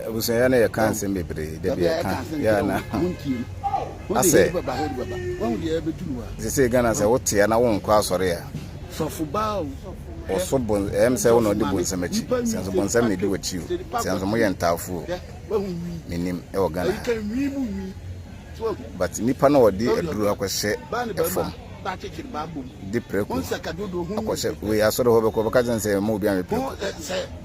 abusua yɛ na yɛka nsɛm bebree da bi yɛka yɛ na asɛ sɛ sɛ ghana sɛ wotea na wonkɔ asɔre a ɔso bon ɛm sɛ wo na ɔde bonsɛm akyi sɛ nso bonsɛm na ɛdi w'akyi o sɛ nso moyɛ ntaafoɔ menim ɛwɔ ghana but nnipa na ɔde aduro akɔhyɛ ɛfam de prɛko akɔhyɛ wei asɔre hɔ bɛkɔ bɛka kyɛn sɛ ma obi anwɛ prɛko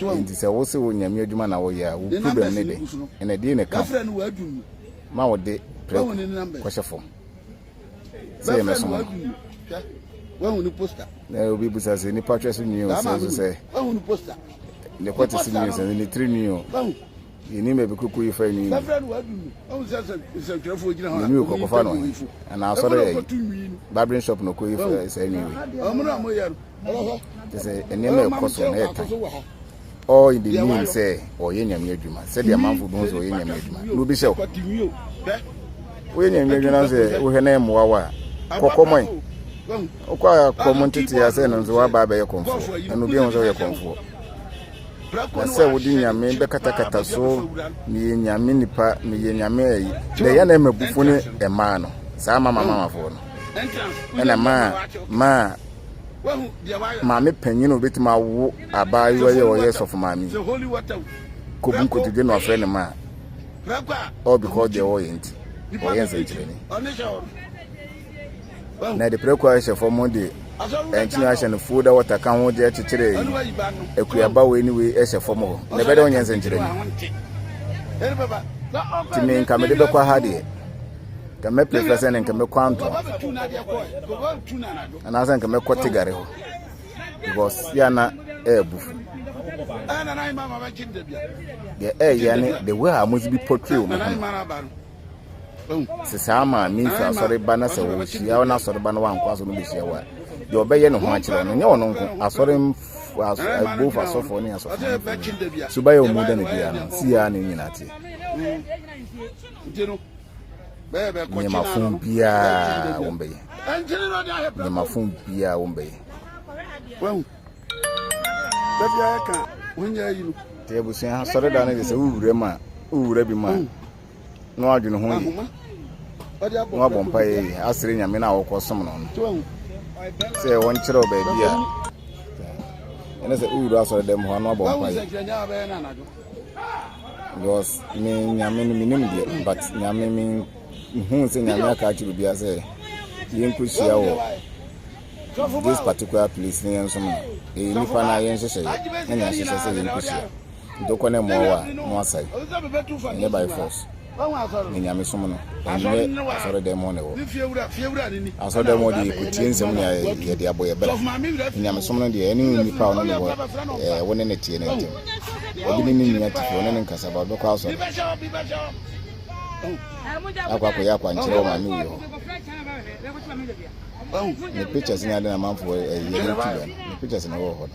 Enti sɛ wose wo Nyame adwuma na woyɛ a, wo problem ne de, ɛnna ɛdeɛn na ɛka ho ma wode prɛko kɔhyɛ fam sɛ yɛmmɛsom no? Na obi bisa sɛ nipa twɛ so nwi o, sɛ nso sɛ ne kɔte so nwi o, sɛ ne tiri nwi o. Yennim baabi kuku yi fa nwi no. Nwi wei kɔkɔfa no he? Anaasɛ ɔdɔ yɛ yi? Barbering shop na ɔkɔyi fa saa nwi wei. Kyerɛ sɛ nneɛma ɛkɔ so na ɛtan. All in the name sɛ ɔyɛ nyame adwuma. Sɛdeɛ amanfo bɛhu sɛ ɔyɛ nyame adwuma. Na obi hyɛ wo. Woyɛ nyame adwuma na sɛ wohwɛ na ɛmmoa wo a, kɔkɔmɔe. Wokɔ a kɔm nteteɛ a sɛ no nso woaba abɛyɛ kɔmfoɔ. Ɛna obi ahu sɛ woyɛ kɔmfoɔ. Na sɛ wode nyame bɛkatakata so meyɛ nyame nipa meyɛ nyame ayi na ɛyɛ na ɛma bufo ne ɛmaa no saa mama mamafoɔ no ɛna maa maa maame panyin obetumi awo abaayewa yɛ ɔyɛ sɔfo maame kɔbu nkotodwe na ɔfrɛ ne maa all because deɛ wɔyɛ nti wɔyɛ nsɛnkyerɛnne na ɛde prɛko a ɛhyɛ fam de ɛnkyene ahyɛ no fuo da wɔta ka ho de akyekyere akuaba wei ne wei ɛhyɛ fam hɔ na ɛbɛdɛ wonyɛ nsɛnkyerɛ ni nti me nka mede bɛkɔ ha deɛ nka mɛpɛ fɛ sɛ ne nka mɛkɔ antoa anaasɛ nka mɛkɔ tegare hɔ because yɛ na ɛɛbu deɛ ɛɛyɛ ne the way a wɔsi bi portray wɔn ho sɛ saa ma ne nsu asɔre ba na sɛ wɔhyia na asɔre ba no wankoa so no bɛhyia wɔ a deɛ ɔbɛyɛ ne ho akyerɛ no nyɛ ɔno nko asɔre both asɔfoɔ ne asɔfoɔ so bɛyɛ ɔmu dɛ no biara no siaa ne nyina teɛ nneɛmafo biara wɔn bɛyɛ nneɛmafo biara wɔn bɛyɛ wahu bɛbi ayɛ ka wɔnyɛ ayi no deɛ abusua asɔre da no de sɛ wowura mu a wowura bi mu a na ɔadwen ho yie, na ɔabɔ mpaeɛ yie asrɛ Nyame no a wɔkɔsom no no sɛ wɔnkyerɛ wo baabi a ɛne sɛ wowura asɔre dɛm hɔ a na wabɔ mpaeɛ because me Nyame no menim deɛ but Nyame mehu sɛ Nyame aka akyerɛ obiara sɛ yɛnkɔhyia wɔ This particular place ne yɛn nso no, ɛyɛ nipa na yɛn nhyehyɛeɛ na nea ahyehyɛ sɛ yɛn nkosua. Nti wokɔ na ɛmmoa wo a, na wasɛe. Ɛnyɛ by force. Ne nyame som no, ɛnyɛ asɔredɛm hɔ na ɛwɔ. Asɔredɛm hɔ deɛ yɛkɔtie nsɛm na yɛde abɔ yɛ bra. Ne nyame som no deɛ, ɛne nipa ɔno ne wɔ, ɛɛ, wo ne ne teɛ no ntɛm. Obi ne ne nni atifi, ɔne ne nkasa ba, ɔbɛkɔ asɔre. Akɔ akɔyɛ akwankyerɛ wɔ maame wei hɔ. Ɔho. Ne pictures ne ade na amanfoɔ ɛyi ɛde to dwa no ne pictures na ɛwɔ hɔ no.